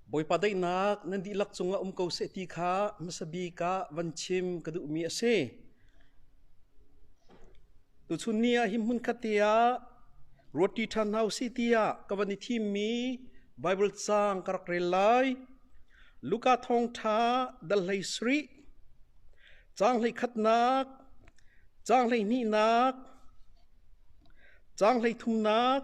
Bawipa daihnak nan dihlak cungah um ko seh ti kha hmasa bik ah van chim ka duhmi a si. Tuchun ni ah hi hmunkhat te ah ruati ṭhan hna u si tiah ka van i thimmi Baibal caang ka rak rel lai. Luka thawngṭha dal hlei sarih, caang hlei khatnak, caang hlei hnihnak, caang hlei thumnak,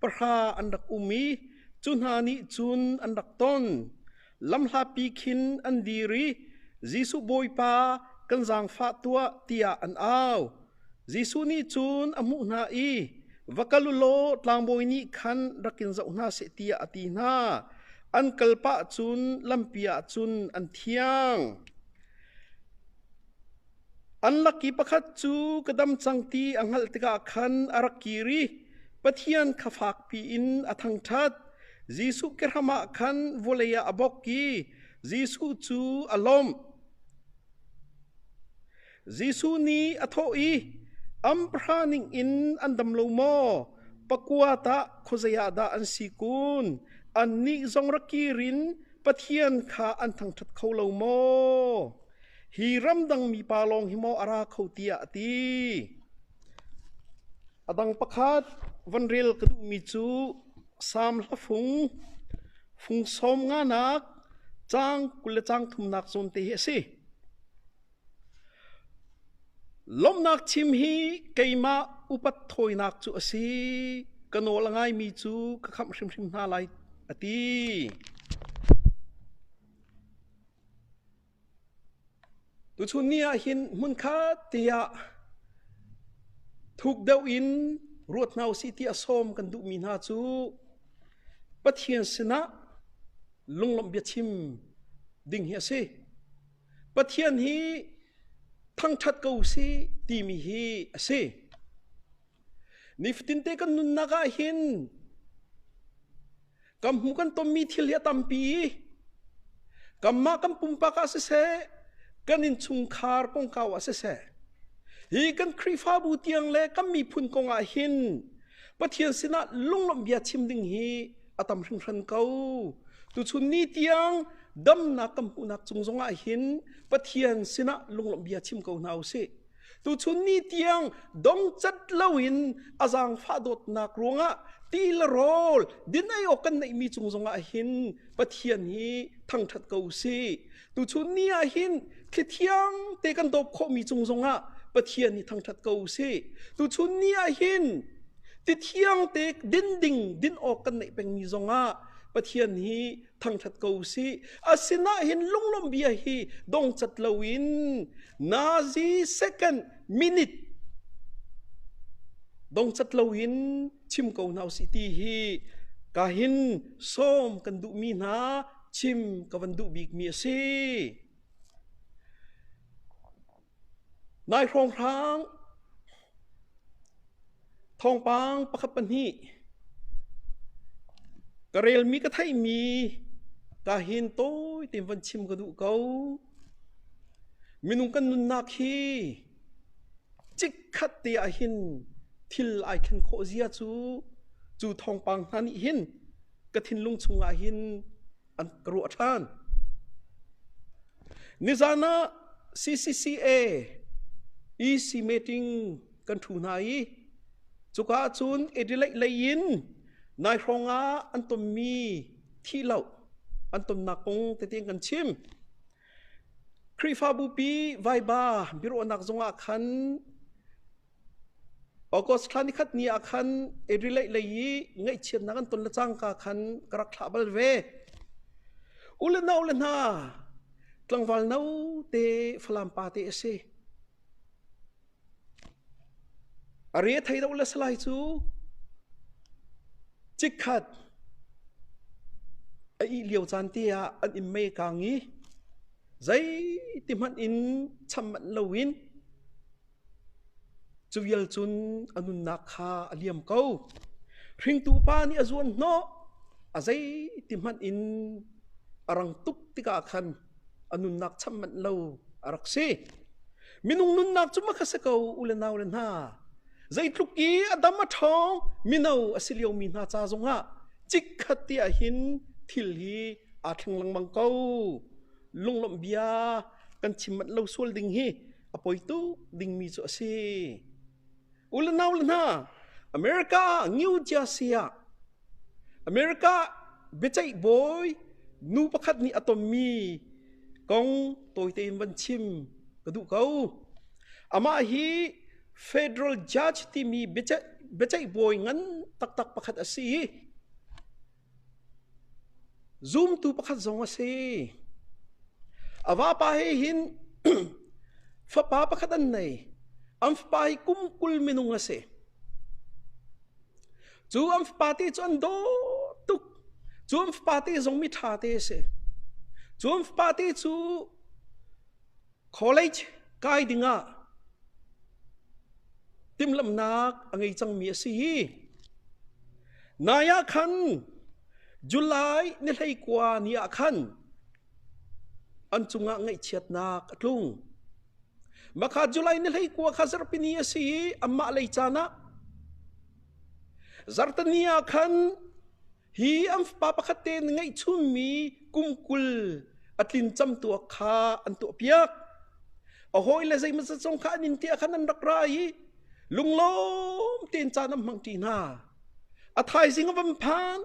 pahra an rak um i cu hna nih cun an rak ton. Lamhlapi khin an dir i Jesuh Bawipa kan zaangfah tuah tiah an au. Jesuh nih cun a hmuh hna i va kal u law tlangbawi nih khan rak in zoh hna seh tiah a ti hna. An kal pah cun lampi ah cun an thiang. An laki pakhat cu ka dam cang ti a hngalh tikah khan a rak kir i Pathian kha fakpi in a thangṭhat. Jesuh kehram ah khan vawlei ah a bok i Jesuh cu a lawmh. Jesuh nih a thawh i, Am pahra ningin an dam lo maw? Pakua tah khuazei ah dah an si kun? Annih zong ra kir in Pathian kha an thangṭhat kho lo maw? Hi ramdang mipa lawng hi maw a ra kho tiah a ti. A dang pakhat van rel ka duhmi cu Sam hla fung, fung sawm nganak, caang kul le caang thumnak zawn te hi a si. Lomhnak chim hi keimah upat thawinak cu a si. Ka nawl a ngaimi cu ka khamh hrimhrim hna lai a ti. Tuchun ni ah hin hmunkhat tiah thuk deuh in ruat hna u sih ti a sawm kan duhmi hna cu Pathian sinah lunglawmh bia chim ding hi a si. Pathian hi thangṭhat ko u sih timi hi a si. Nifatinte kan nunnak ah hin kan hmu kan tonmi thil hi a tampi kanmah kan pumpak ah siseh kan innchungkhar kongkau ah siseh hi kan Khrihfabu tiang le kan miphun kong ah hin Pathian sinah lunglawmhbia chim ding hi a tam hringhran ko tuchun ni tiang damnak kan hmuhnak cung zongah hin Pathian sinah lunglawmhbia chim ko hna u sih Tuchun ni tiang dongcat loin a zaangfah dawtnak ruangah ti le rawl dinai awk kan neihmi cung zongah hin Pathian hi thangṭhat ko usih. Tuchun ni ah hin thli thiang te kan dawp khawhmi cung zongah Pathian hi thangṭhat ko usih. Tuchun ni ah hin ti thiang te din ding din awk kan neih pengmi zongah Pathian hi thangthat ko si asinain lunglawmbia hi dongcat loin nazi second minute dongcat loin chim ko hna si ti hi ka hin som kan duhmi hna chim ka van duh bikmi a si Nai hrawng hraang! Thawngpang pakhat pahnih. Ka relmi ka theihmi ka hin tawi tein von chim ka duh ko. Minung kan nunnak hi chikkhat te ah hin thil ai thlen khawh zia cu cu thawngpang hna nih hin ka thinlung chungah hin an ka ruah ṭhan. Nizan ah CCCA EC meeting kan ṭhu hna i cuka ah cun Adelaide lei in nai hrawng ah an tonmi thih lo an tonnak kong tete kan chim. Khrihfabupi vaiba biaruahnak zongah khan August thla ni khat ni ah khan Adelaide lei i ngaihchiatnak an ton le cangka khan ka rak thlah bal ve. U le nau le hna, tlangval no te Falam pa te a si. A re thei do le salai cu cik khat a ih lio caan te ah an im me kang i zei ti hmanh in cham manh lo in Cavial cun a nunnak kha a liam ko. Hringtu pa nih a zuan hnawh, a zei ti hmanh in a rang tuk tikah khan a nunnak cham manh lo a rak si. Minung nunnak cu makha si ko u le nau le hna. Zeitluk i a dam a ṭhawng mino a si liomi hna ca zongah chikkhat ti ahhin thil hi aa thleng lengmang ko. Lunglawmh bia kan chim manh lo sual ding hi a poi tuk dingmi cu a si. U le nau le hna, America New Jersey ah America biaceih bawi nu pakhat nih a tonmi kong tawite in van chim ka duh ko. Amah hi Federal Judge timi biaceih, biaceih bawi ngan taktak pakhat a si i Zumtu pakhat zong a si. A vapa he hin fapa pakhat an nei. An fapa hi kum kul minung a si. Cu an fapa te cu an daw tuk. Cu an fapa te zong mi ṭha te a si. Cu an fapa te cu College kai dingah timhlamhnak a ngei cangmi a si hi. Nai ah khan July ni hleikua ni ah khan an cungah ngaihchiatnak a tlung. Makha July ni hleikua kha zarhpini a si i amah lei caan ah zarhtani ah khan Hi an fapa pakhat te na ngeihchunmi kum kul a tlin camtuak kha an tuahpiak. A hawile zeimah cacong kha an in tiah khan an rak ra i lunglawm tein caan an hmang ṭi hna. A thaizing a van phan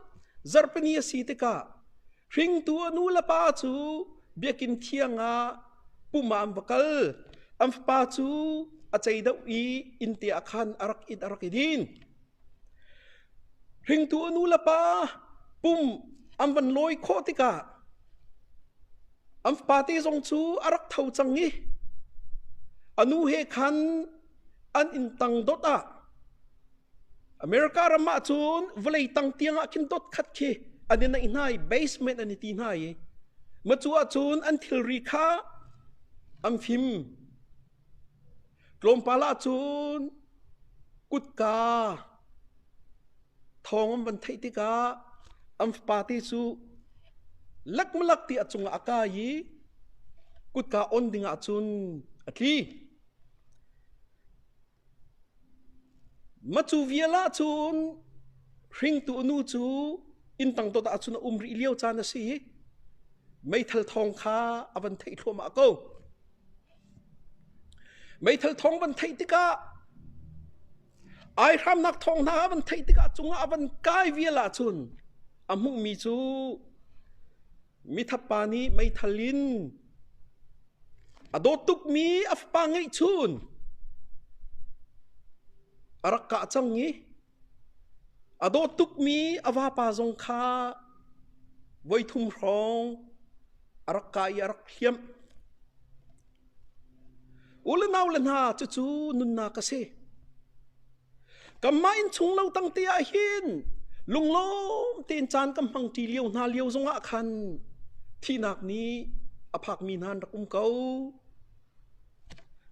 zarpani a si tikah hringtu a nu le pa cu biakin thiang ah pum ah an va kal. An fapa cu a ceidoh i innte ah khan a rak it a rak i din. Hringtu a nu le pa pum an van lawi khawh tikah an fapate zong cu a rak tho cang i a nu he khan an inn tang dot ah America ram ah cun vawlei tang tiangah khin dot khat khi an i naih hna i basement an i ti hna i macu ah cun an thilri kha an fim. Tlawmpal ahcun kutka thawng an van theih tikah an fapate cu lakmalak ti a cungah a kai i kutka on dingah cun a tli. Macu vial ahcun hringtu nu cu inn tang dot ahcun a um rih lio caan a si i meithal thawng kha a van theih thluahmah ko. Meithal thawng van theih tikah, aihramnak thawng hna van theih tikah cungah a van kai vial ahcun a hmuhmi cu mithatpa nih meithal in a dawt tukmi a fapa ngeihchun a rak kah cang i A dawt tukmi a vapa zong kha voithum hrawng a rak kai i a rak hliamh. U le nau le hna, cucu nunnak a si. Kanmah inn chung lo tangte ah hin lunglawm tein caan kan hmang ṭi lio hna lio zongah khan thihnak nih a phakmi hna an rak um ko.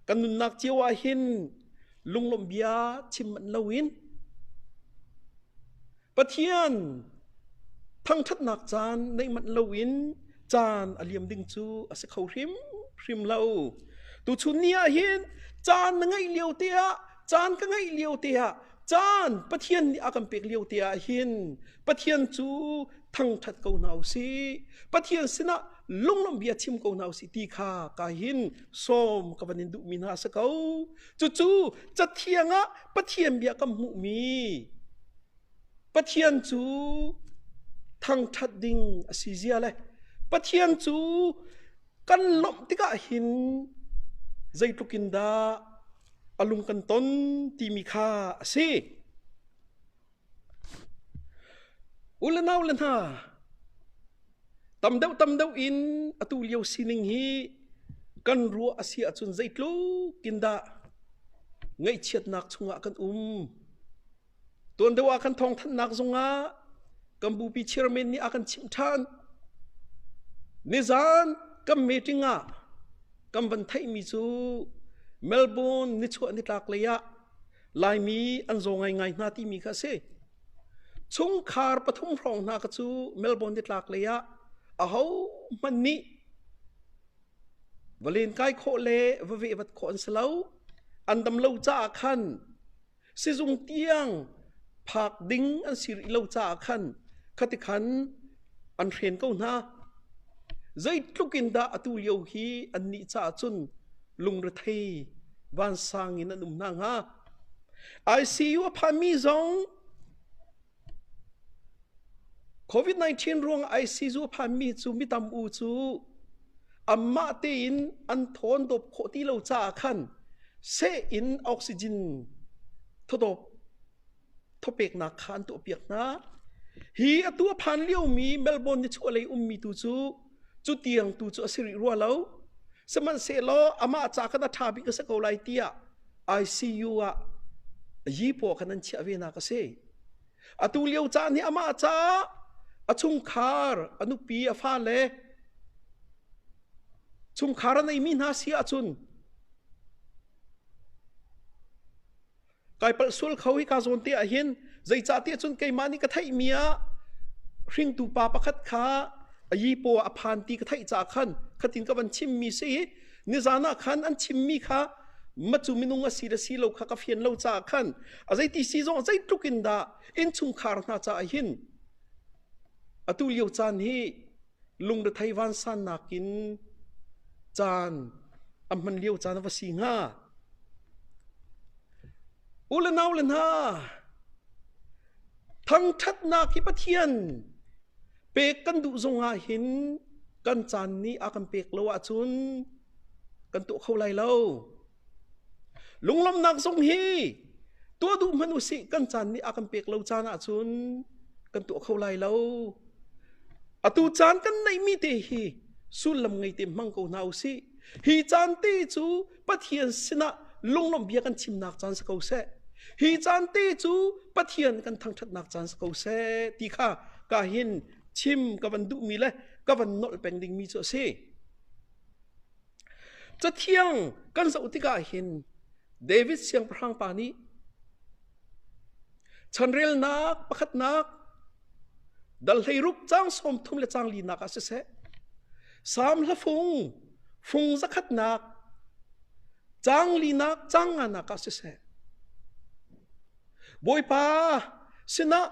Kan nunnak cio ah hin lunglawmhbia chim manh loin Pathian thangṭhatnak caan neih manh loin caan a liam ding cu a si kho hrimhrim lo. Tuchun ni ah hin caan na ngeih lio te ah caan ka ngeih lio te ah caan Pathian nih a kan pek lio te ah hin Pathian cu thangṭhat ko hna u sih Pathian sinah lunglawmh bia chim ko hna u sih ti kha ka hin sawm ka van in duhmi hna si ko cucu cathiang ah Pathian bia kan hmuhmi Pathian cu thangṭhat ding a si zia le Pathian cu kan lawmh tikah hin zeitluk in dah a lung kan ton timi kha a si. U le nau le hna, tam deuh tam deuh in atu lio sining hi kan ruah a si ahcun zeitluk in dah ngaihchiatnak chungah kan um. Tuan deuh ah kan thawngthanhnak zungah kan bupi chairman nih a kan chimh ṭhan. Nizan kan meeting ah kan van theihmi cu Melbourne nichuah nitlak lei ah Laimi an zaw ngaingai hna timi kha a si. Chungkhar pathum hrawng hna kha cu Melbourne nitlak lei ah ahohmanh nih va len kai khawh le va vehvat khawh an si lo. An dam lo caah khan sizung tiang phak ding an si rih lo caah khan khati khan an hren ko hna zeitluk in dah atu lio hi an nih caah cun lungrethei vansang in an um hna hnga ICU a phami zong COVID-19 ruang IC zu a phanmi cu mi tam u cu anmah tein an thawn dawp khawh ti lo caah khan seh in oxygen thawdawp thawpeknak kha an tuahpiak hna. Hi atu a phan liomi Melbourne nichuahlei ummi tu cu Cutiang tu cu a si rih rua lo. Sihmanhsehlaw amah ca khan a ṭha bik a si ko lai tiah ICU ah yipaw khan an chiah ve nak a si. Atu lio caan hi amah ca a chungkhar, a nupi, a fale chungkhar a neimi hna si ahcun kai palh sual kho hi ka zawn te ah hin zeicah ti cun keimah nih ka theihmi ah hringtu pa pakhat kha yipo a phan ti ka theih caah khan khatin ka van chimmi si nizan ah khan an chimmi kha macu minung a si le si lo kha ka fian lo caah khan a zeiti si zong zeitluk in dah innchungkhar hna caah hin atu lio caan hi Lungrethei vansannak in caan an hman lio caan a va si hnga. U le nau le hna, thangthatnak hi Pathian pek kan duh zong ah hin kan caan nih a kan pek lo ahcun kan tuah kho lai lo. Lunglawmhnak zong hi tuah duh hmanh u sih kan caan nih a kan pek lo caan ahcun kan tuah kho lai lo. Atu caan kan neihmi te hi sullam ngei te hmang ko hna u sih. Hi caan te cu Pathian sinah lunglawmh bia kan chimnak caan si ko seh. Hi caan te cu Pathian kan thangṭhatnak caan si ko seh ti kha ka hin chim ka van duhmi le ka van nolh peng dingmi cu a si. Cathiang kan zoh tikah hin David siangpahrang pa nih chanrelnak pakhatnak dalhleiruk cang sawm thum le cang linak ah siseh Salm hlafung fung zakhatnak cang linak cang nganak ah siseh Bawipa sinah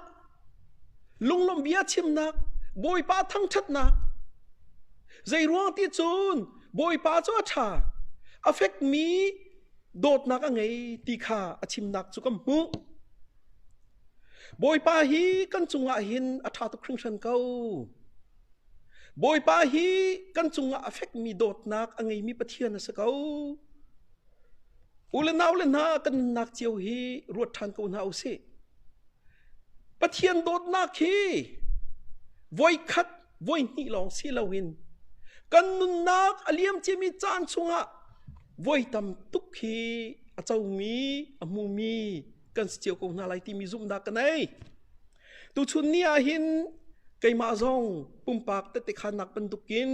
lunglawmhbia chimnak, Bawipa thangṭhatnak, zeiruang ti cun Bawipa cu a ṭha, a fekmi dawtnak a ngei ti kha a chimnak cu kan hmuh. Bawipa hi kan cungah hin a ṭha tuk hringhran ko. Bawipa hi kan cungah a fekmi dawtnak a ngeimi Pathian a si ko. U le nau le hna kan nunnak cio hi ruat ṭhan ko hna u sih. Pathian dawtnak hi voi khat voi hnih lawng si loin kan nunnak a liam ciami caan chungah voi tam tuk hi a comi a hmumi kan si cio ko hna lai timi zumhnak ka nei. Tuchun ni ah hin keimah zong pumpak tete khanak bantukin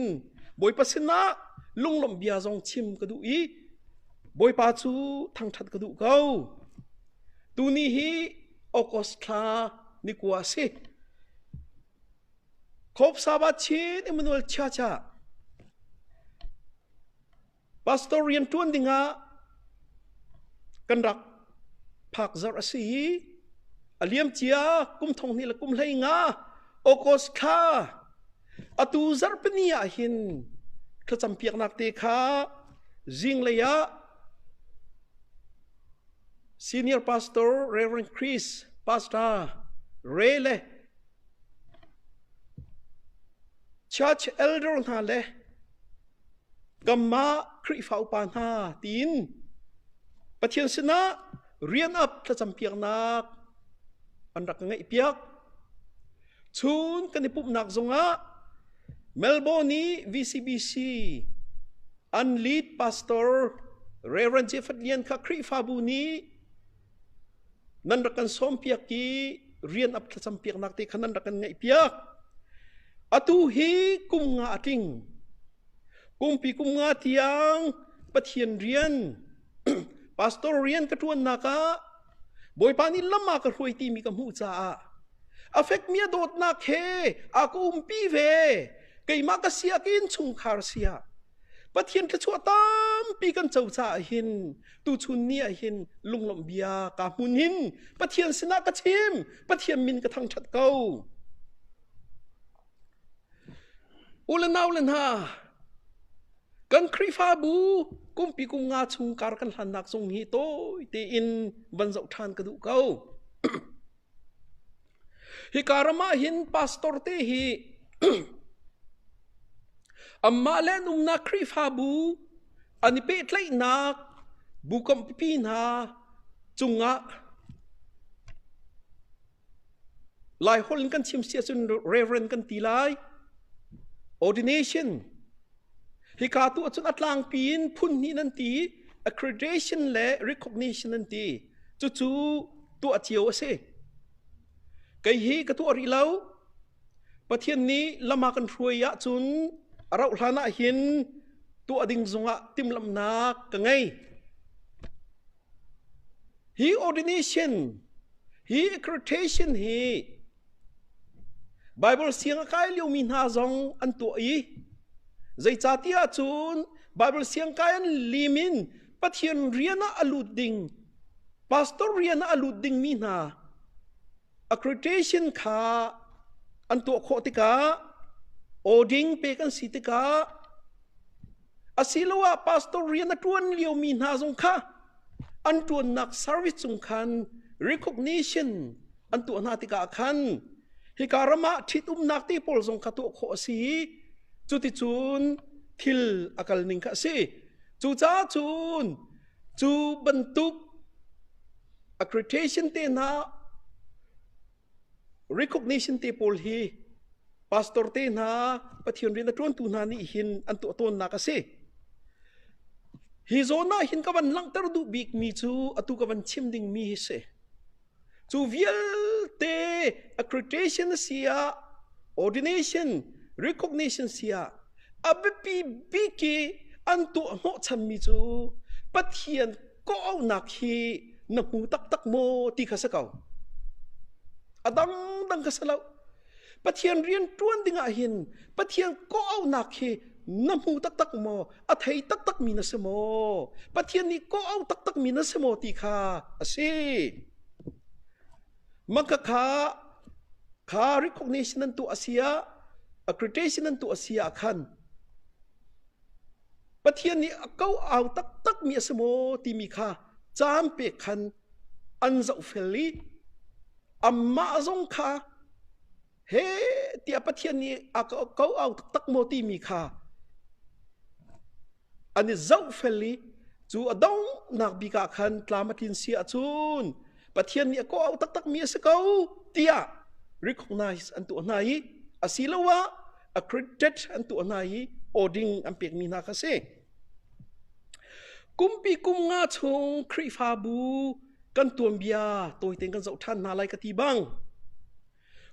Bawipa sinah lunglawmh bia zong chim ka duh i Bawipa cu thangṭhat ka duh ko. Tuni hi August thla ni kua a si. Kop Sabat Chin Emmanuel Chacha pastor rian ṭuan dingah kan rak phak zarh a si i a liam cia kum thong hnih le kum hlei nga August kha atu zarhpini ah hin thlacam piaknak te kha zinglei ah senior pastor Reverend Chris Pastor Ray le church elder hna le Kanmah Khrihfa upa hna tiin Pathian sinah rian up thlacampiaknak an rak ka ngeihpiak. Chun kan i pumhnak zongah Melbourne i VCBC an lead pastor Reverend Jeffert Lian kha Khrihfabu nih nan rak kan sawmpiak i rian ap thlacam piaknak te kha nan rak kan ngaihpiak atu hi kum nga a tling kumpi kum nga tiang pathian rian pastor rian ka ṭuannak ah bawipa nih lam a ka hruai timi ka hmuh caah afek mi dawtnak he a ka umpi ve keimah ka siak in chungkhar sia pathian thluachuah tampi kan co caah hin Tuchun ni ah hin lunglawmh bia ka hmun in Pathian sinah ka chim, Pathian min ka thangṭhat ko. U le nau le hna, kan Khrihfabu kumpi kum nga chung kar kan hlannak zong hi tawi tein van zoh ṭhan ka duh ko. Hika ram ah hin pastor te hi anmah le an umnak Khrihfabu an i pehtlaihnak bu kampipi hna cungah Laiholh in kan chim si ahcun Reverend kan ti lai. Ordination Hika tu ahcun a tlangpi in phunhnih nan ti, accreditation le recognition an ti. Cucu tuah cio a si. Kei hi ka tuah rih lo. Pathian nih lama kan hruai ahcun a rauh hlan ah hin tuah ding zungah timhlamhnak ka ngei. Hi ordination, hi accreditation hi Bible siang a kai liomi hna zong an tuah i zeicatiah cun Bible siang kai an lim in Pathian rian ah a lut ding pastor rian ah a lut dingmi hna Accreditation kha an tuah khawh tikah awding pek an si tikah asiloah pastor rian a ṭuan liomi hna zong kha an ṭuannak service cung khan recognition an tuah hna tikah khan hika ram ah ṭhitumnak te pawl zong kha tuah khawh a si i cuticun thil a kal ning kha a si. Cucaah cun Cu bantuk accreditation te hna recognition te pawl hi pastor te hna pathian rian a ṭuantu hna nih hin an tuah tawnnak a si. Hi zawn ah hin ka van langhter duh bikmi cu atu ka van chim dingmi hi si. Cu vialte accreditation a si ah, ordination, recognition si ah a biapi bik i an tuah hnawhchanmi cu Pathian kawhauhnak hi na hmu taktak maw ti kha si ko. A dangdang kha si lo. Pathian rianṭuan dingah hin Pathian kawhaunak hi na hmu taktak maw? A thei taktakmi na si maw? Pathian nih kawhau taktakmi na si maw ti kha a si. Maka kha kha recognition nan tu a sia accreditation nan tu a sia khan Pathian nih a kau au taktakmi a si maw timi kha caan pe khan an zohfel i amah zong kha he tiah Pathian nih a ko au taktak maw timi kha an i zohfel i cu a donghnak bik ah khan tlam a tlin si ahcun Pathian nih a ko au taktakmi a si ko tiah recognize an tuah hna i asiloah accredited an tuah hna i awding an pekmi hna kha si Kumpi kum nga chung Khrihfabu kan tuanbia tawi tein kan zoh ṭhan hna lai ka ti bang,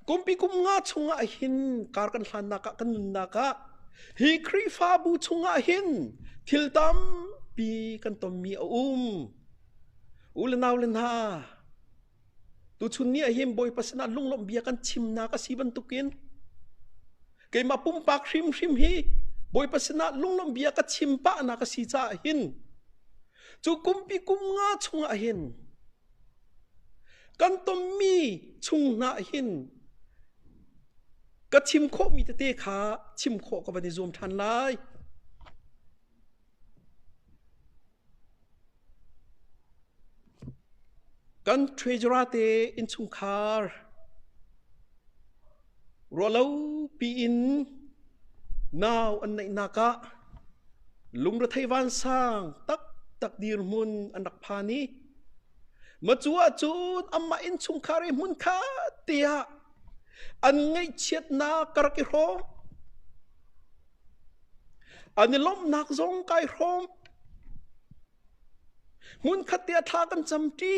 kumpi kum nga chungah hin kar kan hlannak ah, kan nunnak ah hi Khrihfabu chungah hin thil tampi kan tonmi a um. U le nau le hna, Tuchun ni ah hin Bawipa sinah lunglawmh bia kan chimnak a si bantukin keimah pumpak hrimhrim hi Bawipa sinah lunglawmh bia ka chim pahnak a si caah hin cu kumpi kum nga chungah hin kan tonmi chung hna hin ka chim khawhmi tete kha chim khawh ka van i zuam ṭhan lai. Kan treasurate innchungkhar ruahlo piin nau an neihnak ah lungrethei vansang taktak dirhmun an rak phan i macu ahcun amah innchungkhar i hmun kha te ah an ngaihchiatnak ka rak i hrawm. An i lawmhnak zong kai hrawm. Hmunkhat te ah thla kan camṭi.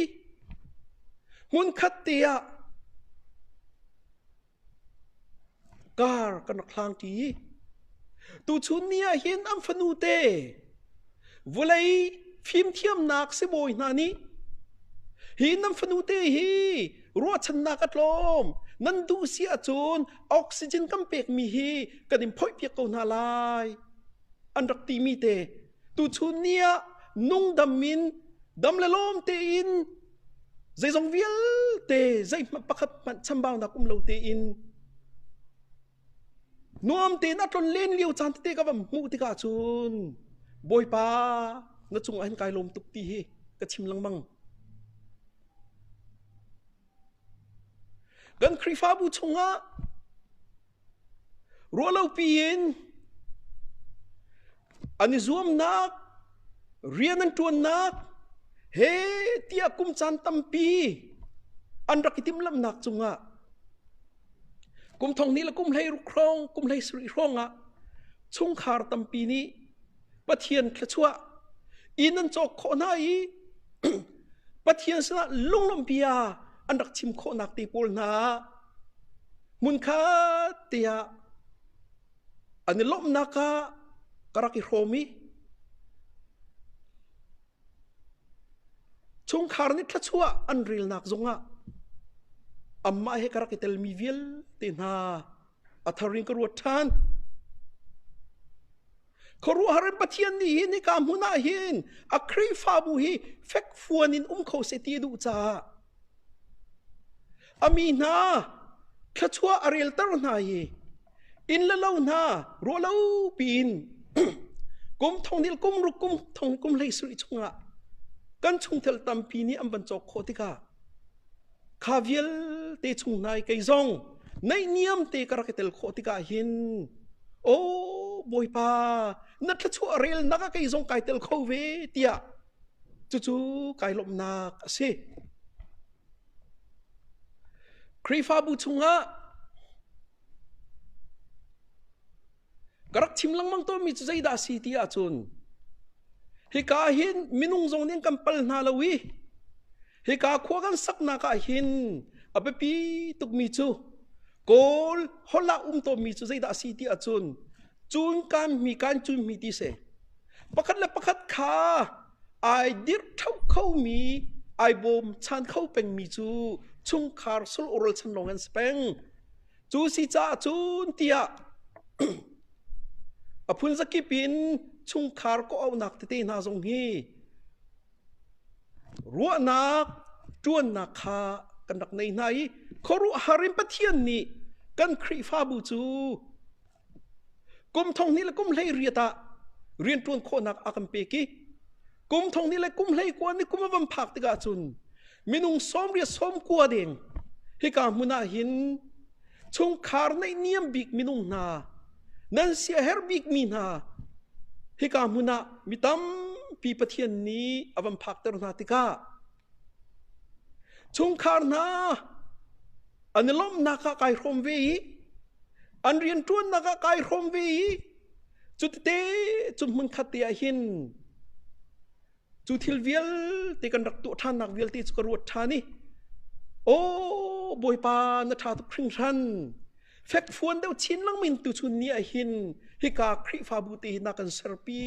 Hmunkhat te ah kar kan rak hlangṭi. Tuchun ni ah hin an fanu te vulei fimthiamnak sibawi hna nih hi nan fanu te hi ruahchannak a tlawm nan duh si ahcun oxygen kan pekmi hi kan in phoihpiak ko hna lai an rak timi te tuchun ni ah nungdam in dam le lawm tein zeizong vialte zeihmanh pakhat hmanh chambaunak um lo tein nuam tein a tlon len lio caan tete ka va hmuh tikah cun bawipa na cung ah hin kai lawm tuk ti hi ka chim lengmang Kan Khrihfabu chungah ruahlopi in an i zuamnak, rian an ṭuannak he tiah kum caan tampi an rak i timhlamhnak cungah kum thong hnih le kum hlei hrong, kum hlei sarih hrawngah chungkhar tampi nih Pathian thluachuah in an cawk khawh hna i Pathian sinah lunglawmpi ah an rak chim khawhnak te pawl hna hmunkhat tiah an i lawmhnak ah ka rak i hrawm i chungkhar nih thluachuah an relnak zongah amah he ka rak i telmi vialte hna a tharin ka ruat ṭhan. Khuaruahhar in Pathian nih hin nika hmun ah hin a Khrihfabu hi fekfuan in um kho se ti duh caah a mi hna thluachuah a relter hna i inn le lo hna ruahlo piin kum thongnil kum ruk kum thong kum hlei suri chungah kan chungtel tampi nih an van cawk khawh tikah kha vialte chung nai kei zong neihniam te ka rak i tel khawh tikah hin aw bawipa na thlachuah rel nak ah kei zong kai tel kho ve tiah cucu kai lawmhnak a si Khrihfabu chungah ka rak chim lengmang tawnmi cu zeidah si ti ahcun hika hin minung zong nih kan pal hna lo i hika khua kan saknak ah hin a biapi tukmi cu kawl hollah um tawnmi cu zeidah a si ti ahcun cun kan mi kan cun mi ti se pakhat le pakhat kha ai dirh tho khomi ai bawm chan kho pengmi cu chungkhar sul oral chan lawng an si peng cu si caah cun tiah a phun zakip in chungkhar kawhaunak tete hna zong hi ruahnak ṭuannak kha kan rak nei hna i khuaruahhar in Pathian nih kan Khrihfabu cu Kum thong hnih le kum hlei riat ah rianṭuan khawhnak a kan pek i kum thong hnih le kum hlei kua nih kum a van phak tikah cun minung sawmriat sawm kua deng hika hmun ah hin chungkhar neih niam bik minung hna nan sia her bikmi hna hika hmun ah mi tampi Pathian nih a van phakter hna tikah Chungkhar hna an i lawmhnak ah kai hrawm ve i an rianṭuannak ah kai hrawm ve i cutete cu hmunkhat te ah hin cu thil vialte kan rak tuah ṭhannak vialte cu ka ruat ṭhan i aw Bawipa na ṭha tuk hringhran fekfuan deuh chin lengmang tu chun ni ah hin hika Khrihfabu te hi na kan serpi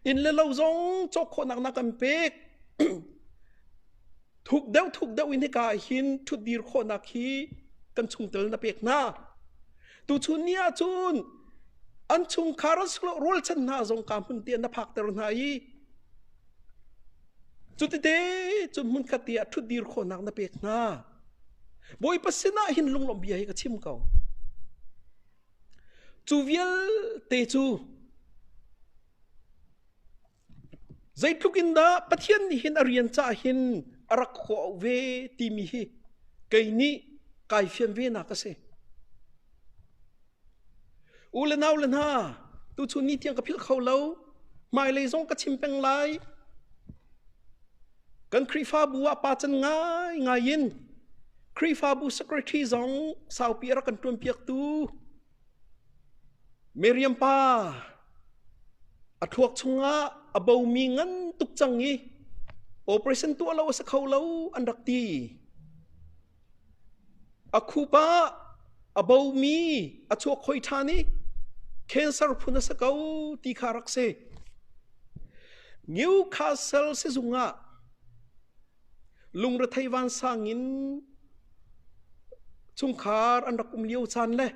Inn le lo zong cawk khawhnak na kan pek. thuk deuh thuk deuh in hika ah hin ṭhutdir khawhnak hi kan chungtel na pek hna. Tuchun ni ahcun an chungkhar an silo rualchan hna zong ka hmun te na phakter hna i cutite cun hmun khat te ah ṭhutdir khawhnak na pek hna. Bawipa sinah hin lunglawmh bia hi ka chim ko. Cu vialte cu zeitluk in dah Pathian nih hin a rian caah hin a rak hua ve timi hi kei nih kai fian venak a si. U le nau le hna, tuchun ni tiang ka philh kho lo. Hmailei zong ka chim peng lai. Kan Khrihfabu ah pa can ngaingai in Khrihfabu secretary zong saupi a rak kan ṭuanpiaktu Miriam pa a thluak chungah a bomi ngan tuk cang i operation tuah lo a si kho lo an rak ti. A khup ah a bomi a chuakhoi ṭhan i cancer phun a si ko ti kha rak si. Newcastle sizung ah lungrethei vansang in chungkhar an rak um lio caan le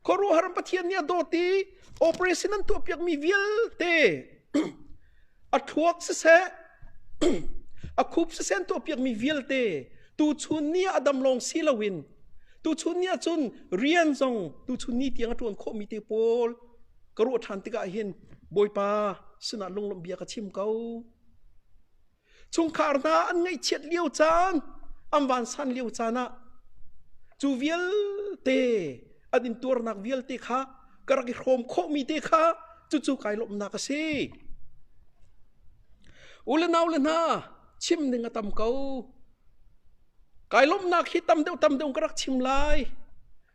khuaruahhar pathian nih a dawt i operation an tuahpiakmi vialte A thluak siseh, a khup siseh tuah piakmi vialte tuchun ni ah a dam lawng si loin tuchun ni ahcun rian zong tuchun ni tiang a ṭuan khawhmi te pawl ka ruah ṭhan tikah hin Bawipa sinah lunglawmh bia ka chim ko. chungkhar hna an ngaihchiat lio caan an vansan lio caan ah cu vialte an intuarnak vialte kha ka rak i hrawm khawhmi te kha cucu kai lawmhnak a si u le nau le hna chim ning a tam ko Kai lawmhnak hi tam deuh tam deuh ka rak chim lai.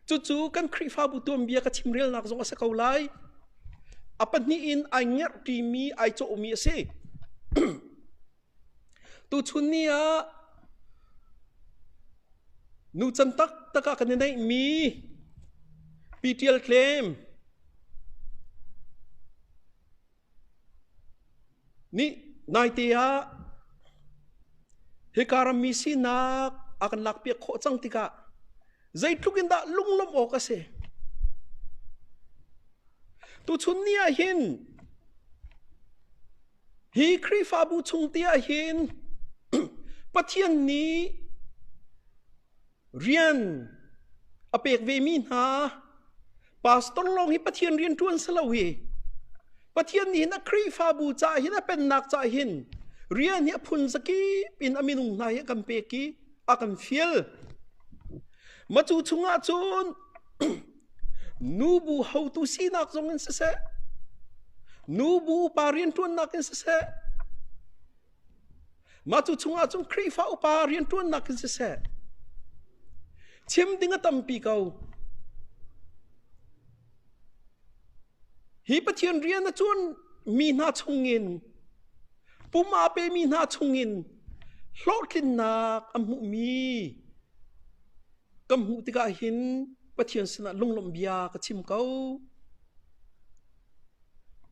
Cucu kan Khrihfabu tuanbia ka chim relnak zong a si ko lai. A pahnih in ai ngerhṭi mi, ai cawhmi a si. Tuchun ni ah nucan taktak ah kan i neihmi P. Ṭial Tlem, Nih naite ah hika rammi sinak a kan lakpiak khawh cang tikah zeitluk in dah lunglawmh awk a si. Tuchun ni ah hin hi Khrihfabu chung te ah hin Pathian nih Rian a pek vemi hna, pastor lawng hi Pathian rian ṭuan si lo hi, Pathian nih hin a Khrihfabu caah hin, a Pennak caah hin rian hi a phunzakip in a minung hna hi a kan pek i a kan fial. Matu chungah cun nu bu hotu sinak zong in siseh, nu bu upa rianṭuannak in siseh, Mah cu chungah cun Khrihfa upa rianṭuannak in siseh, chim ding a tampi ko. Hi Pathian rian a ṭuanmi hna chungin, pum aa pemi hna chungin hlawhtlinnak an hmuhmi Kan hmuh tikah hin Pathian sinah lunglawmh bia ka chim ko.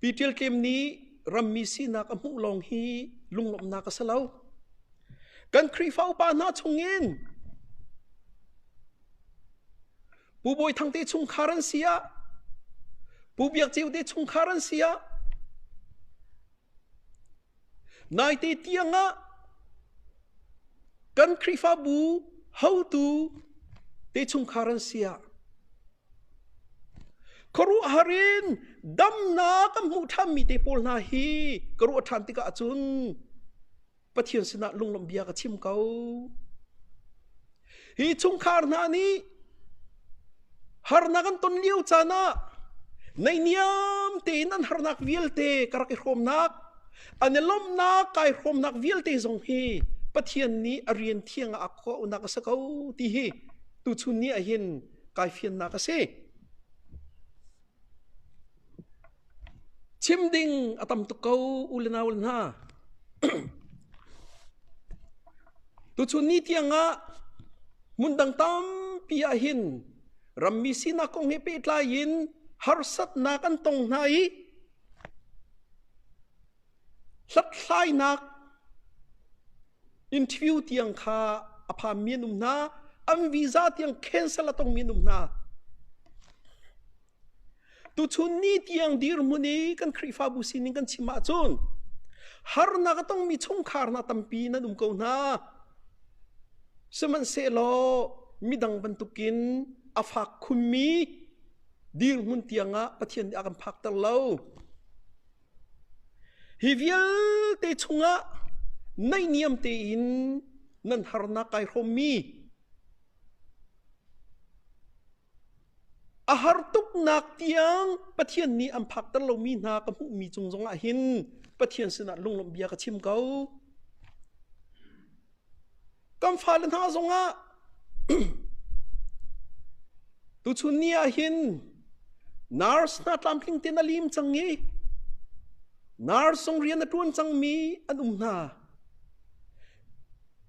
Pi Ṭial Tlem nih rammi sinak a hmuh lawng hi lunglawmhnak a si lo. Kan Khrihfa upa hna chungin Pu Bawi Thang te chungkhar an si ah, Pu Biak Ceu te chungkhar an si ah, Naite tiangah kan Khrihfabu hotu te chungkhar an si ah khuaruahhar in damnak kan hmuh ṭhanmi te pawl hna hi ka ruah ṭhan tikah cun Pathian sinah lunglawmh bia ka chim ko. Hi chungkhar hna nih harnak an ton lio caan ah neihniam tein an harnak vialte ka rak i hrawmnak an i lawmhnak kai hrawmnak vialte zong hi Pathian nih a rian thiang ah a khuaunak a si ko ti hi tuchun ni ah hin kai fiannak a si. Chim ding a tam tuk ko u le nau le hna. Tuchun ni tiangah hmundang tampi ahhin rammi sinak kong he pehtlai in harsatnak an tong hna i hlathlainak interview tiang kha a phanmi an um hna. An visa tiang cancel a tongmi an um hna. Tuchun ni tiang dirhmun i kan Khrihfabu sining kan chim ahcun harnak a tongmi chungkhar hna tampi nan um ko hna. Sihmanhsehlaw midang bantukin a fak khunmi dirhmun tiangah Pathian nih a kan phakter lo. Hi vialte chungah naihniam tein nan harnak kai hrawmmi A har tuknak tiang Pathian nih an phakter lomi hna ka hmuhmi cung zongah hin Pathian sinah lunglawmh bia ka chim ko. Kan fale hna zongah tuchun ni ah hin nurse hna tlamtling tein a lim cang i nurse sung rian a ṭuan cangmi an um hna.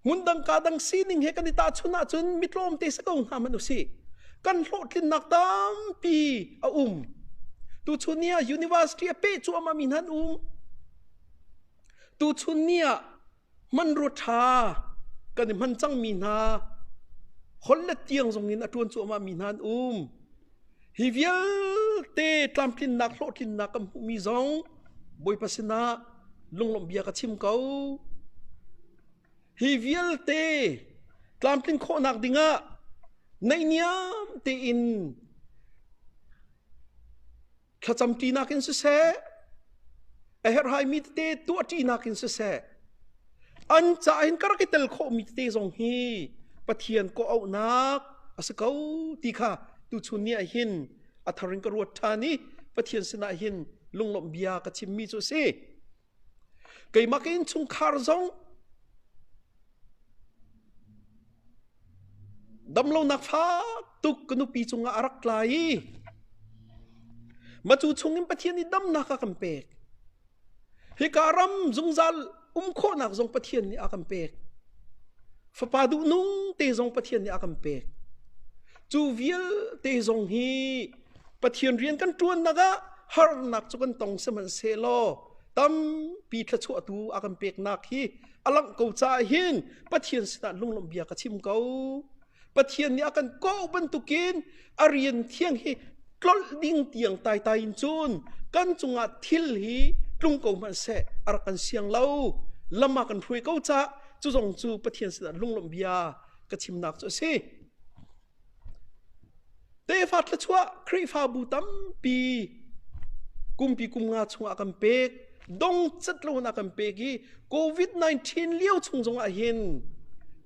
Hmundang ka dang sining he kan i tahchun ahcun mitlawm te si ko hna man usih. Kan hlawhtlinnak tampi a um. Tuchun ni ah university a pe cu ama mi nan um. Tuchun ni ah manro tha kan i man cang mi hna holle tiang zong in a tuan cu ama mi nan um. Hi vialte tlamtlinnak hlawhtlinnak kan hmuhmi zong Bawipa sinah lunglawmhbia ka chim ko. Hi vialte tlamtlin khawhnak dingah naihniam tein thlacamṭi nakin siseh a herhaimi tete tuahṭi nakin siseh an ca in ka rak i tel khawhmi tete zong hi pathian kawh auhnak a si ko ti kha tuchun ni ah hin a thar in ka ruat ṭhan i pathian sinah hin lunglawmh bia ka chimmi cu a si Keimah ka innchungkhar zong damlonak fak tuk ka nupi cungah a rak tla i macu chungin Pathian i damnak a kan pek. Hika ram zungzal um khawhnak zong Pathian nih a kan pek. Fapa duhnung te zong Pathian nih a kan pek. Cu vialte zong hi Pathian rian kan ṭuannak ah harnak cu kan tong sihmanhsehlaw tampi thluachuahtu a kan peknak hi a langh ko caah hin Pathian sinah lunglawmhbia ka chim ko. Pathian nih a kan kawh bantukin a rian thiang hi tlolh ding tiang taitai in cun kan cungah thil hi tlung ko hmanh seh a rak kan siang lo. Lam ah kan hruai ko cah. Cu zong cu Pathian sinah lunglawmhbia ka chimnak cu a si. Tefa thluachuah Khrihfabu tampi kumpi kum nga chungah a kan pek. Dongcat loin a kan pek i COVID-19 lio chung zongah hin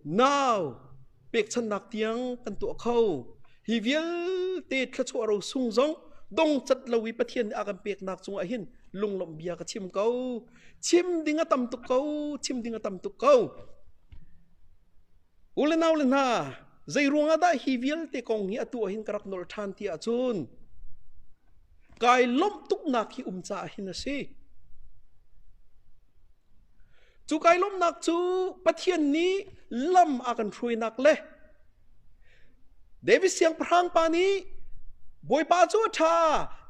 nau pekchanhnak tiang kan tuah kho. Hi vialte thluachuah ro sung zong dongcat lo i Pathian nih a kan peknak cungah hin lunglawmh bia ka chim ko. Chim ding a tam tuk ko, chim ding a tam tuk ko. U le nau le hna, zei ruangah dah hi vialte kong hi atu ah hin ka rak nawl ṭhan ti ahcun kai lawmh tuknak hi um caah hin a si. Cu kai lawmhnak cu Pathian nih lam a kan hruainak le David siangpahrang pa nih Bawipa cu a ṭha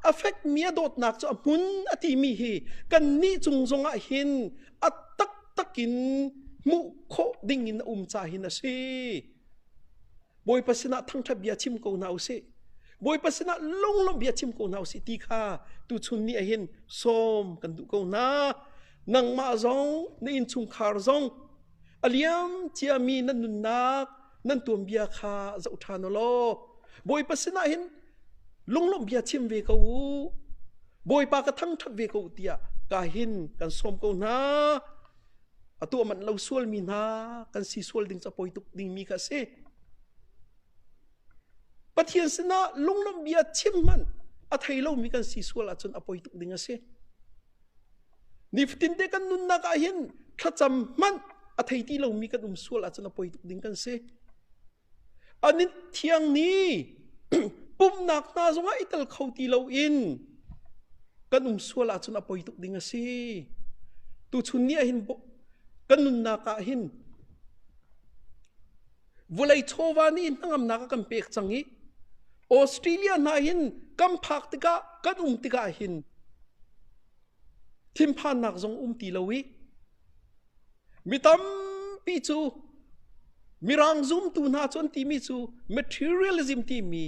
a fekmi a dawtnak cu a hmun a timi hi kannih cung zongah hin a taktak in hmuh khawh ding in a um ca hin a si bawipa sinah thangṭhat bia chim ko hna u sih bawipa sinah lunglawmh bia chim ko hna u sih ti kha tuchun ni ah hin sawm kan duh ko hna nangmah zong na innchungkhar zong a liam ciami na nunnak nan tuanbia kha zoh ṭhan u law Bawipa sinah hin lunglawmh bia chim ve ko u Bawipa ka thangṭhat ve ko u tiah ka hin kan sawm ko hna atu manh lo sual mi hna kan si sual ding capoi tuk ding mi kha si Pathian sinah lunglawmh bia chim hmanh a thei lomi kan si sual ahcun a poi tuk ding a si Nifatin te kan nunnak ah hin thlacam hmanh a thei ti lomi kan um sual ahcun a poi tuk ding kan si. Anin thiang ni pumnak hna zongah i tel kho ti lo in kan um sual ahcun a poi tuk ding a si. Tuchun ni ah hin kan nunnak ah hin Vulei chawva nih hnangamnak a kan pek cang i Australia hna hin kan phak tikah kan um tikah hin thinphannak zong um ti lo i mi tampi cu mirang zumtu hna cu an timi cu materialism timi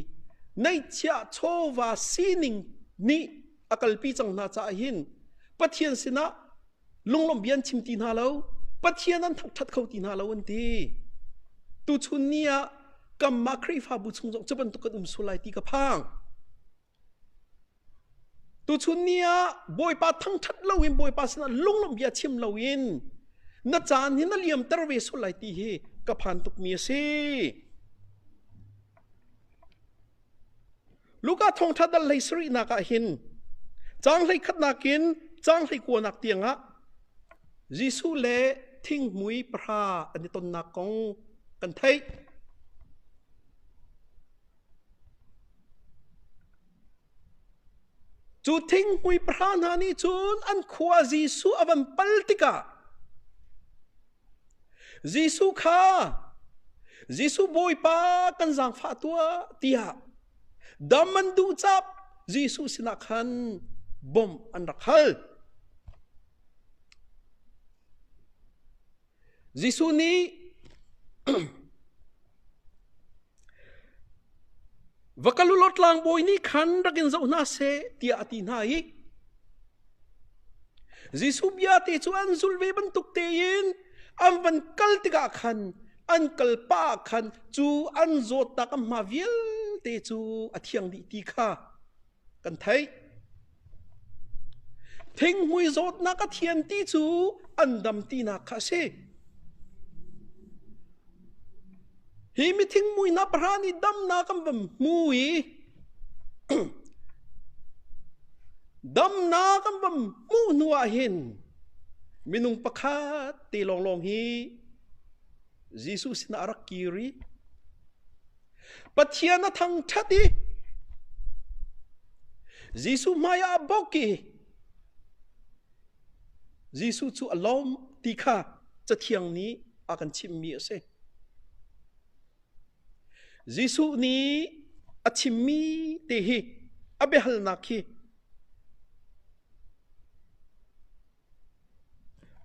neihchiah chawva sining nih a kalpi cang hna caah hin Pathian sinah Lunglawmh bia an chim ti hna lo. Pathian an thangṭhat kho ti hna lo an ti. Tuchun ni ah kanmah Khrihfabu chung zong cu bantuk kan um sual lai ti ka phang. Tuchun ni ah Bawipa thangṭhat loin Bawipa sinah lunglawmh bia chim loin na caan hi na liamter ve sual lai ti hi ka phan tukmi a si. Luka thawngṭha dal hlei sarihnak ah hin caang hlei khatnak in caang hlei kuanak tiangah Jesuh le thinghmui pahra an i tonnak kong kan theih. Cu thinghmui pahra hna nih cun an khua Jesuh a van pal tikah Jesuh kha Jesuh Bawipa kan zaangfah tuah tiah dam an duh cap Jesuh sinah khan bom an rak hal. Jesuh nih Va kal u law tlangbawi nih khan rak in zoh hna seh, tiah a ti hna i Jesuh bia te cu an zul ve bantuk tein an van kal tikah khan an kalpa khan cu an zawtnak an hma vialte cu a thiang dih ti kha kan theih. Thinghmui zawtnak a thian ti cu an dam tinak kha a si. Hi mi thingmui na pahra nih damnak an van hmu i damnak an van hmuh hnu ah hin minung pakhat te lawnglawng hi Jesuh sinah a rak kir i Pathian a thangṭhat i Jesuh hmaiah a bok i Jesuh cu a lawm ti kha cathiang nih a kan chimmi a si. Jesuh nih a chimmi te hi a biahalnak hi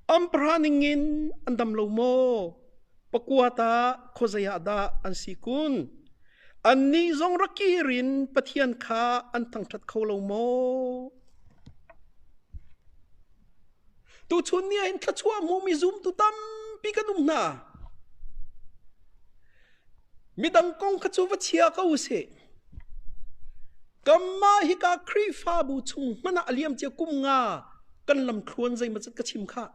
An pahra ning in an dam lo maw? Pakua tah khuazei ah dah an si kun? Annih zong rakir in Pathian kha an thangṭhat kho lo maw? Tuchun ni ah hin thluachuah hmumi zumtu tampi kan um hna. Midang kong kha cu va chia ko sih. Kanmah hika Khrihfabu chung hmanh ah a liam cia kum nga kan lamthluan zeimaw zat ka chim khah.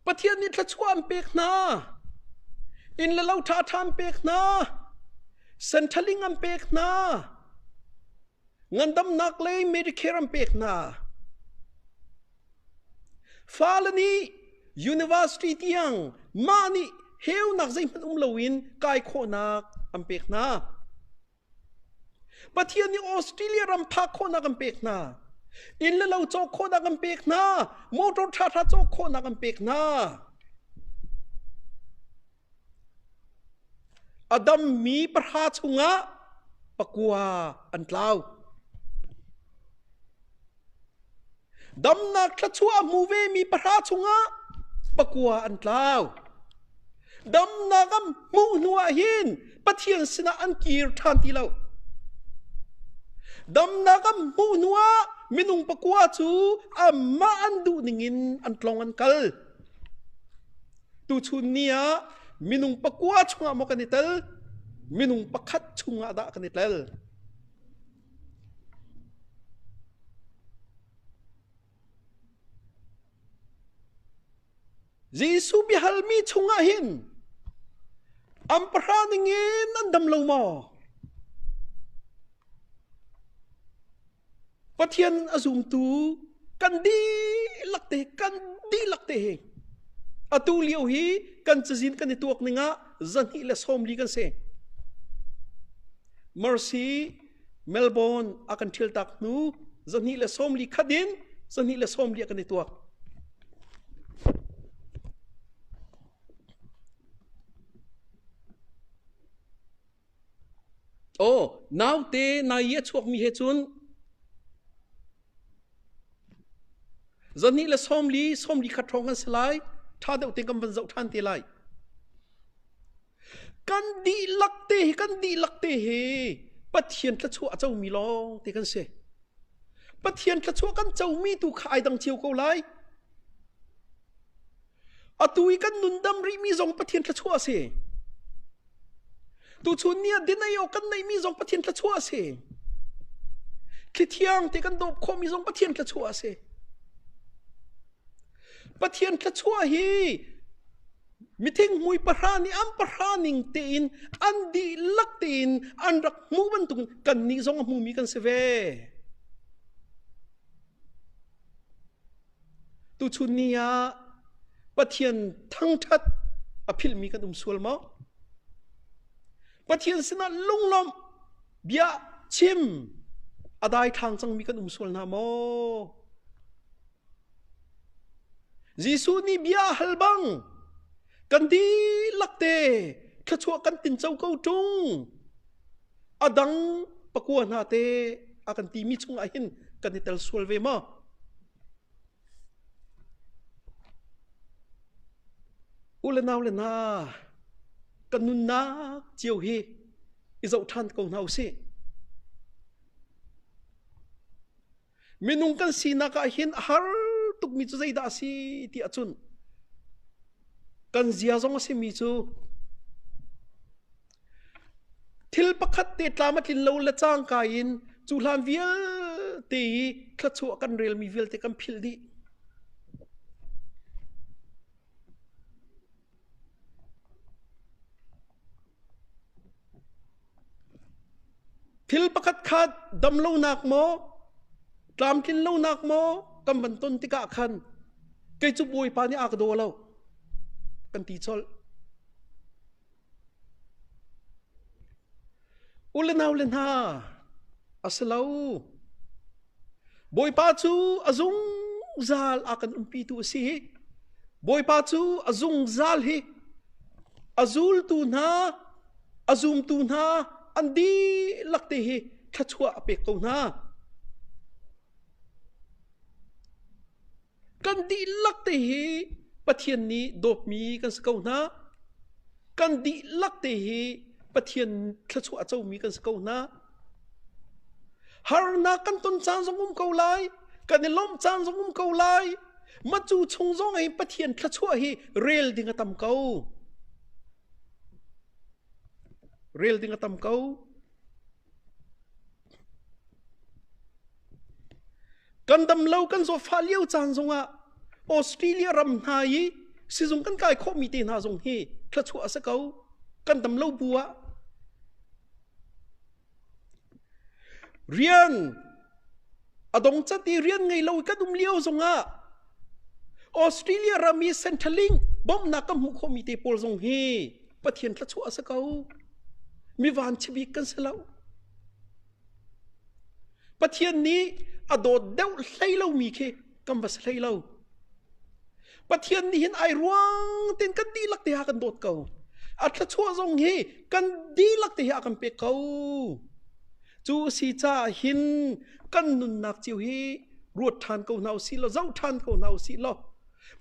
Pathian nih thluachuah an pek hna. Inn le lo ṭha ṭha an pek hna. Senthaling an pek hna. Ngandamnak le Medicare an pek hna. Fale nih university tiang mah nih heunak zeihmanh um loin kai khawhnak an pek hna. Pathian nih Australia ram phak khawhnak an pek hna. Inn le lo cawk khawhnak an pek hna. Motor ṭhaṭha cawk khawhnak an pek hna. A dammi pahra chungah pakua an tlau. Damnak thluachuah a hmu vemi pahra chungah pakua an tlau. Damnak an hmuh hnuah hin Pathian sinah an kir ṭhan ti lo. Damnak an hmuh hnuah minung pakua cu amah an duh ningin an tlong an kal. Tuchun ni ah minung pakua chungah maw kan i tel minung pakhat chungah dah kan i tel Jesuh biahalmi chungah hin am pahra ning in an dam lo maw Pathian a zumtu kan dihlak te kan dihlak te hi atu lio hi kan cazin kan i tuak ning ah zahnih le sawm li kan si mercy melbourne a kan thil tak hnu zahnih le sawm li khat in zahnih le sawm li a kan i tuak Aw, naute na i a chuakmi he cun zahnih le sawmli, sawmli khat hrawng an si lai. Ṭha deuh tein kan van zoh ṭhan te lai. Kan dihlak te hi, kan dihlak te hi Pathian thluachuah a comi lawng te kan si. Pathian thluachuah kan comi tu kha ai dang cio ko lai. Atu i kan nundam rihmi zong Pathian thluachuah a si. Tuchun ni ah dinai awk kan neihmi zong Pathian thluachuah a si. Thlithiang ti kan dawp khawhmi zong Pathian thluachuah a si. Pathian thluachuah hi mithing mui pahra nih an pahra ning tein an dihlak tein an rak hmu bantuk kan nih zong a hmumi kan si ve. Tuchun ni ah Pathian thangṭhat a philhmi kan um sual maw? Pathian sinah lunglawmh, bia chim a daithlang cangmi kan um sual hna maw? Jesuh nih bia a hal bang kan dihlak te thluachuah kan tinco ko ṭung adang pakua hna te a kan timi chungah hin kan i tel sual ve ma u le nau le na kan nunnak cio hi i zoh ṭhan ko hna u sih Minung kan sinak ah hin a har tukmi cu zeidah a si ti a cunh. Kan zia zong a simi cu thil pakhat te tlam a tlin lo le cangka in cu hlan vialte i thlachuah kan relmi vialte kan philh dih. Thil pakhat kha dam lonak maw, tlamtlin lonak maw kan van ton tikah khan kei cu Bawipa nih a ka daw lo kan ti colh. U le nau le hna, a si lo. Bawipa cu a zungzal a kan umpitu a si hi. Bawipa cu a zungzal hi a zultu hna, a zumtu hna an dihlak te hi thluachuah a pek ko hna. Kan dihlak te hi Pathian nih dawtmi kan si ko hna. Kan dihlak te hi Pathian thluachuah a comi kan si ko hna. Harnak kan ton caan zong um ko lai. Kan i lawmh caan zong um ko lai. Matu chung zong in Pathian thluachuah hi rel ding a tam ko. Rel ding a tam ko. Kan damlo kan zawfa lio caan zongah Australia ram hna i sizung kan kai khawhmi te hna zong hi thluachuah a si ko. Kan damlo bu ah rian adong cati rian ngei lo kan um lio zongah Australia rami Centrelink bomnak ka hmuh khomi te pawl zong hi pathian thlachuah a si ko mi van chibik kan si lo pathian nih a dawt deuh hlei lomi khi kan va si hlei lo Pathian nih hin ai ruang tin kan dihlak te ha kan dawt ko. A thluachuah zong hi kan dihlak te hi a kan pek ko. Cu si ca hin kan nunnak chiu hi ruat ṭhan ko hna u si law zoh ṭhan ko hna u si law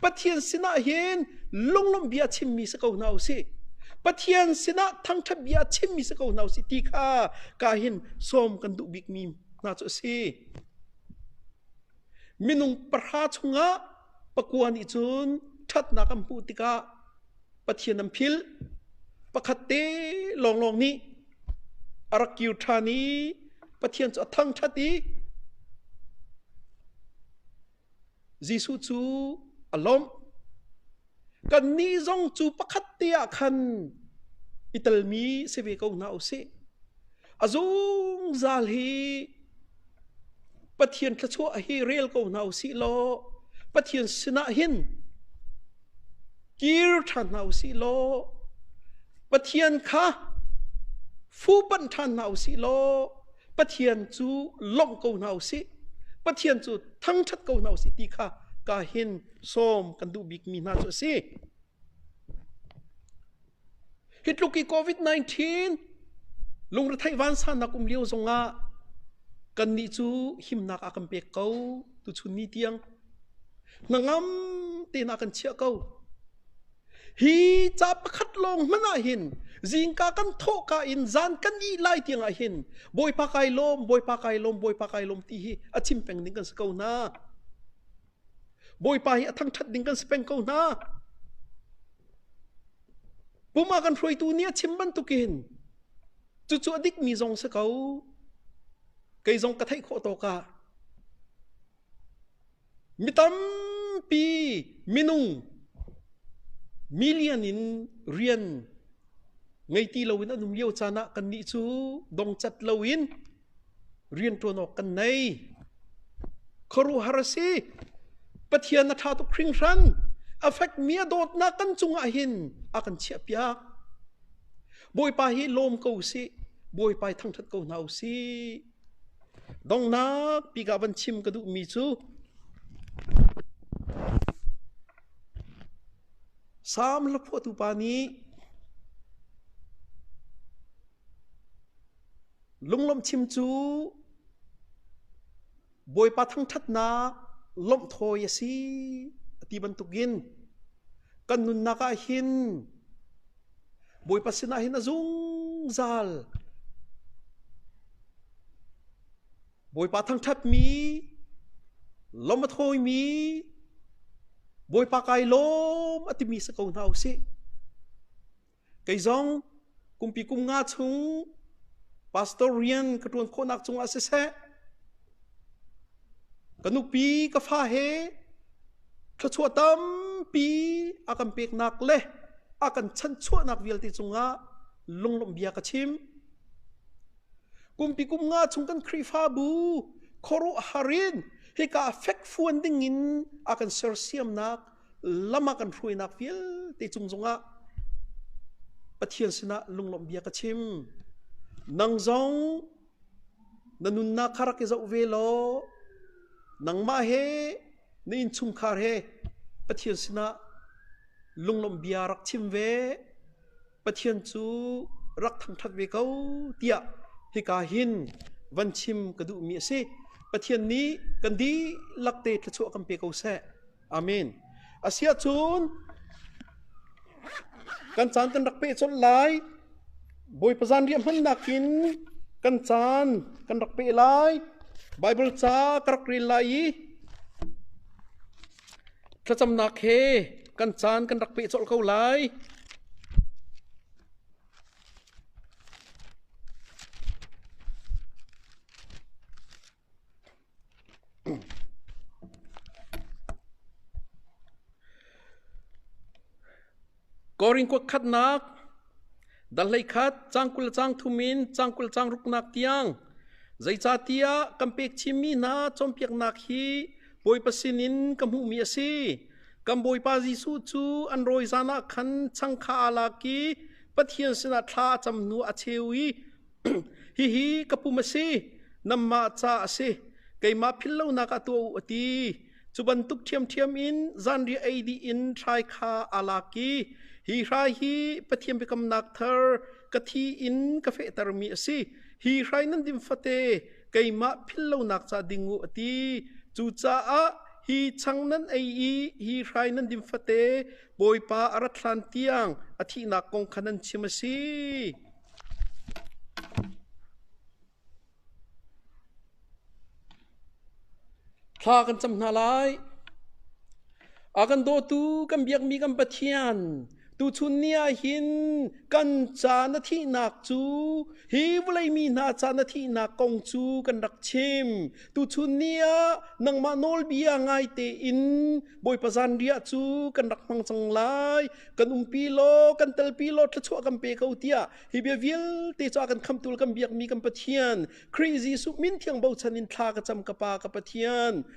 Pathian sinah hin lunglawmh bia chimmi si ko hna u si Pathian sinah thangṭhat bia chimmi si ko hna u si ti kha ka hin sawm kan duh bikmi hna cu a si minung pahra chungah pakua nih cun ṭhatnak an hmuh tikah Pathian an philh. Pakhat te lawnglawng nih a rak kir ṭhan i Pathian cu a thangṭhat i Jesuh cu a lawmh. Kannih zong cu pakhat te ah khan i telmi si ve ko hna u sih. A zungzal hi Pathian thluachuah hi rel ko hna u sih law Pathian sinah hin kir ṭhan hna u sih law Pathian kha fuhpanh ṭhan hna u sih law Pathian cu lawmh ko hna u sih Pathian cu thangṭhat ko hna u sih ti kha ka hin sawm kan duh bikmi hna cu a si. Hi tluk i COVID-19 lungretheih vansanak um lio zongah kannih cu himnak a kan pek ko tuchun ni tiang hnangam tein a kan chiah ko hi ca pakhat lawng hmanh ah hin zingka kan thawhka in zan kan ih lai tiangah hin bawipa kai lawm bawipa kai lawm bawipa kai lawm ti hi a chim peng ding kan si ko hna Bawipa hi a thangṭhat ding kan si peng ko hna. Pum a kan hruaitu nih a chim bantukin cucu a dikmi zong si ko. Kei zong ka theih khawh tawk ah mi tampi minung million in rian ngei ti loin an um lio caan ah kannih cu dongcat loin rianṭuan awk kan nei. Khuaruahhar a si. Pathian a ṭha tuk hringhran. A fekmi a dawtnak kan cungah hin a kan chiahpiak. Bawipa hi lawm ko sih. Bawipa i thangṭhat ko hna u sih. Donghnak bika van chim ka duhmi cu Salm hlaphuahtu pa nih Lunglamchim cu Bawipa thangṭhatnak lawmh thawi a si a ti bantukin kan nunnak ah hin Bawipa sinah hin a zungzal Bawipa thangṭhatmi lawm a thawimi Bawipa kai lawm a timi si ko hna u sih. kei zong kumpi kum nga chung pastor rian ka ṭuan khawhnak cungah siseh ka nupi ka fa he thluachuah tampi a kan peknak le a kan chanchuahnak vialte cungah lunglawmh bia ka chim kumpi kum nga chung kan Khrihfabu khuaruah harin hika fekfuan dingin a kan sersiamnak lam ah kan hruainak vialte cung zongah Pathian sinah lunglawmh bia ka chim nang zong na nunnak kha rak i zoh ve law nangmah he na innchungkhar he Pathian sinah lunglawmh bia rak chim ve Pathian cu rak thangṭhat ve ko tiah hika hin van chim ka duhmi a si Pathian nih kan dihlak te thluachuah kan pe ko seh Amen. Asia cun kan caan kan rak pe colh lai. Bawipa zan riah hman nakin kan caan kan rak pe lai. Bible ca ka rak rel lai i thlacamnak he kan caan kan rak pe colh ko lai. Korinth kua khatnak Dahlei khat cang kul cang thum in cang kul cang ruknak tiang zeicahtiah kan pek chimmi hna cawnpiaknak hi Bawipa sinin ka hmuhmi a si. Kan Bawipa Jesuh cu an rawi zan ah khan changka aa lak i Pathian sinah thla a cam hnu a cheu i Hihi ka pum a si, nanmah ca a si, keimah philhlonak ah tuah u, a ti. Cu bantuk ṭhiamṭhiam in zanriah ei dih in hrai kha aa lak i hi hrai hi Pathian biakamnak thar ka thi in ka fehtermi a si. Hi hrai nan din fate keimah philhlonak ca ding u, a ti. Cucaah hi chang nan ei i hi hrai nan din fate Bawipa a rat hlan tiang a thihnak kong kha nan chim a si. Thla kan cam hna lai. A kan dawtu kan biakmi kan Pathian tuchun ni ah hin kan ca na thihnak cu hi vawlei mi hna ca na thihnak kong cu kan rak chim. tuchun ni ah nangmah nawlbia ngai tein bawipa zan riah cu kan rak hmang cang lai kan umpi law kan telpi law thlachuah kan pe ko tiah hi bia vialte cu a kan khamtul kan biakmi kan pathian Khrih Jesuh min thiang bochan in thla ka cam ka pa ka pathian